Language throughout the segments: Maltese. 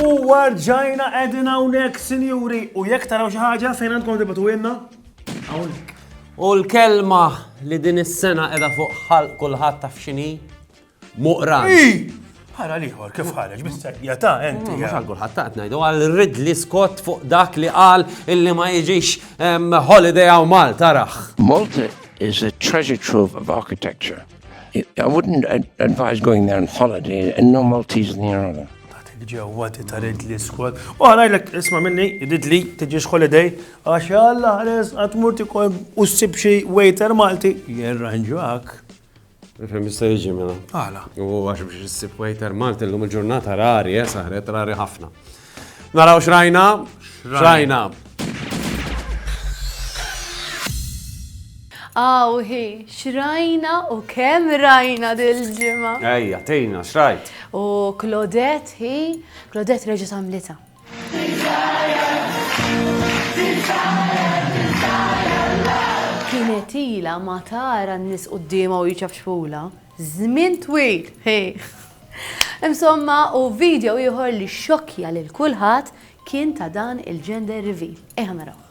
U warġajna edin hawnhekk, sinjuri, u jekk taraw xi ħaġa fejn għandkom tibatu jenna? U l-kelma li din is-sena qiegħda fuq ħalq kulħadd taf x'inhi? Moqran. Hi! Ħara l-ieħor kif ħareġ bis-serjetà enti. Mhux għal kulħadd taqt ngħidu għal Ridley Scott fuq dak li qal illi ma jiġix ehm, holiday għaw Malta raħ. Malta is a treasure trove of architecture. I wouldn't advise going there on holiday and no Maltese in the area. ġewwa ti ta' Ridley Scott. U għalajlek isma minni, Ridley, tiġix holiday, għax għalla ħares għatmur tikol u s-sibxi waiter Malti, jirranġuak. Fem jista' jiġi mela. Għala. U għax biex issib waiter Malti llum il-ġurnata rari, eh, saħret rari ħafna. Naraw xrajna, xrajna. Aw, hi, xrajna u kemm rajna dil-ġimgħa. Ejja, tejna, xrajt. U Claudette, hi, Claudette reġa' samlita. Kienet ila ma tara n-nies quddiemha u hi ċafċfula. Żmien twil! Insomma, u video ieħor li xxokkja lil kulħadd kien ta' dan il-gender reveal. Ejja narawh.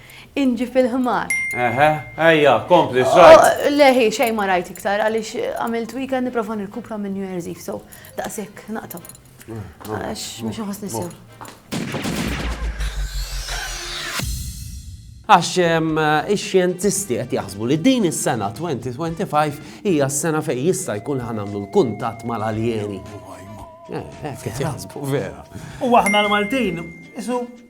Inġi fil-ħmar. Eħe, ejja, kompli, xrajt. Oh, le, hi, xej ma rajt iktar, għalix għamilt weekend niprofa nirkupra minn New Year's Eve, so daqsek naqtaw. Mm, Għax, mux nħos nissew. Għax ix-xjentisti qed jaħsbu li din is-sena 2025 hija s-sena fejn jista' jkun ħanamlu l-kuntatt mal-aljeni. Eh, eh, qed jaħsbu vera. U aħna l-Maltin, isu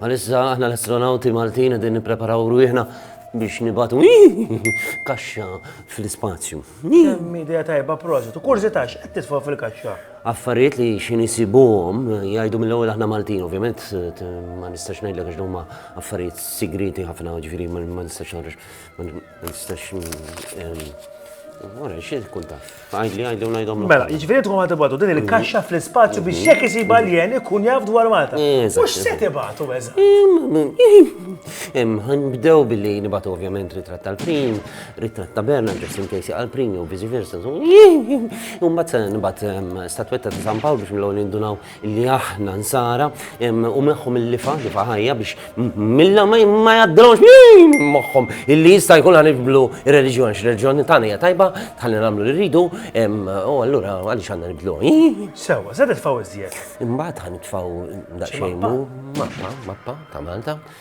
Għalissa aħna l-astronawti Maltin qegħdin nippreparaw rwieħna biex nibatu kaxxa fl-ispazju. Kemm idea tajba prosit, u kurzita x'qed titfgħu fil-kaxxa? Affarijiet li xi nisibuhom jgħidu mill-ewwel aħna Maltin, ovvjament ma nistax ngħidlek għax huma affarijiet sigriti ħafna, ġifieri ma nistax Ma nistax Wara, xie tkun taf? Għajdli, għajdli, għajdom. Mela, ġifiri tkun għatibatu din il-kaxxa mhm. fl-spazju biex mhm. jek jisib għaljen ikun jaf dwar Malta. Mux se tibatu, eżat. Għan bdew billi nibatu ovvjament ritratt tal-prim, ritratt ta' Berna, just in case għal-prim, u vizi versa. Umbat se nibat ehm, statwetta ta' San Pawl biex mill-għol nindunaw li aħna nsara u meħħom il-lifa, lifa ħajja biex milla ma jaddrawx min moħħom illi jista' jkun għan ibdlu il-reġjon, x-reġjon tagħna hija tajba, tħalli nagħmlu li rridu, u allura għaliex għandna nibdlu. Sewa, se titfaw iżjed. Imbagħad ħan nitfaw daqsxejn mappa, mappa ta' Malta.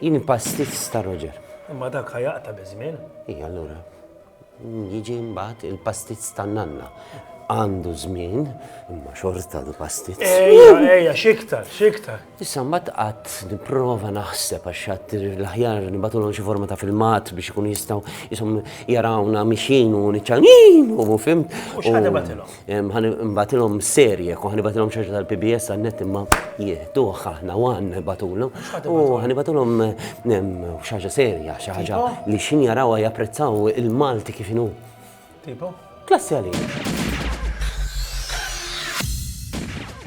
Jien pastizz ta' Roger. Imma dak ħajaqta biż-żmien. Ija allura. Jiġi mbagħad il-pastizz tan-nanna. Għandu żmien, imma xorta du pastizz. Ejja, ejja, xiktar, xiktar. Issa mbagħad qatt nipprova naħseb għax xatt l-aħjar nibatulhom xi forma ta' filmat biex ikun jistgħu jisom jarawna mixin u niċċanin u fimt. U x'ħad ibatilhom? Ħa nibgħatilhom serje, u ħa nibgħatilhom xi ħaġa tal-PBS għan-net imma jieħduh aħna u għandna nibgħatulhom. U ħa nibgħatilhom xi ħaġa serja, xi ħaġa li xin jarawha japprezzaw il-Malti kif inhu. Tipo? Klassi għalik.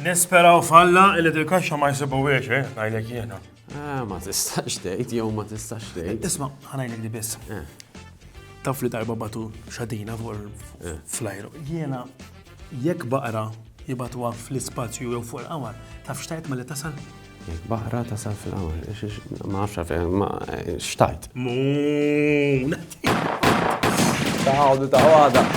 Nisperaw falla li dil-kaxxa ma jsibu wiex, eh, ngħidlek jiena. Ah, ma tistax tgħid jew ma tistax tgħid. Isma' ħanajlek di biss. Eh. Taf li darba batu xadina fuq eh. flajru. Jiena jekk baqra jibatuha fl-ispazju jew fuq il-qamar, taf xtajt ma li tasal? Jekk baqra tasal fil-qamar, ma nafx għafja, ma xtajt. Muuu, ta' għadu ta' għada.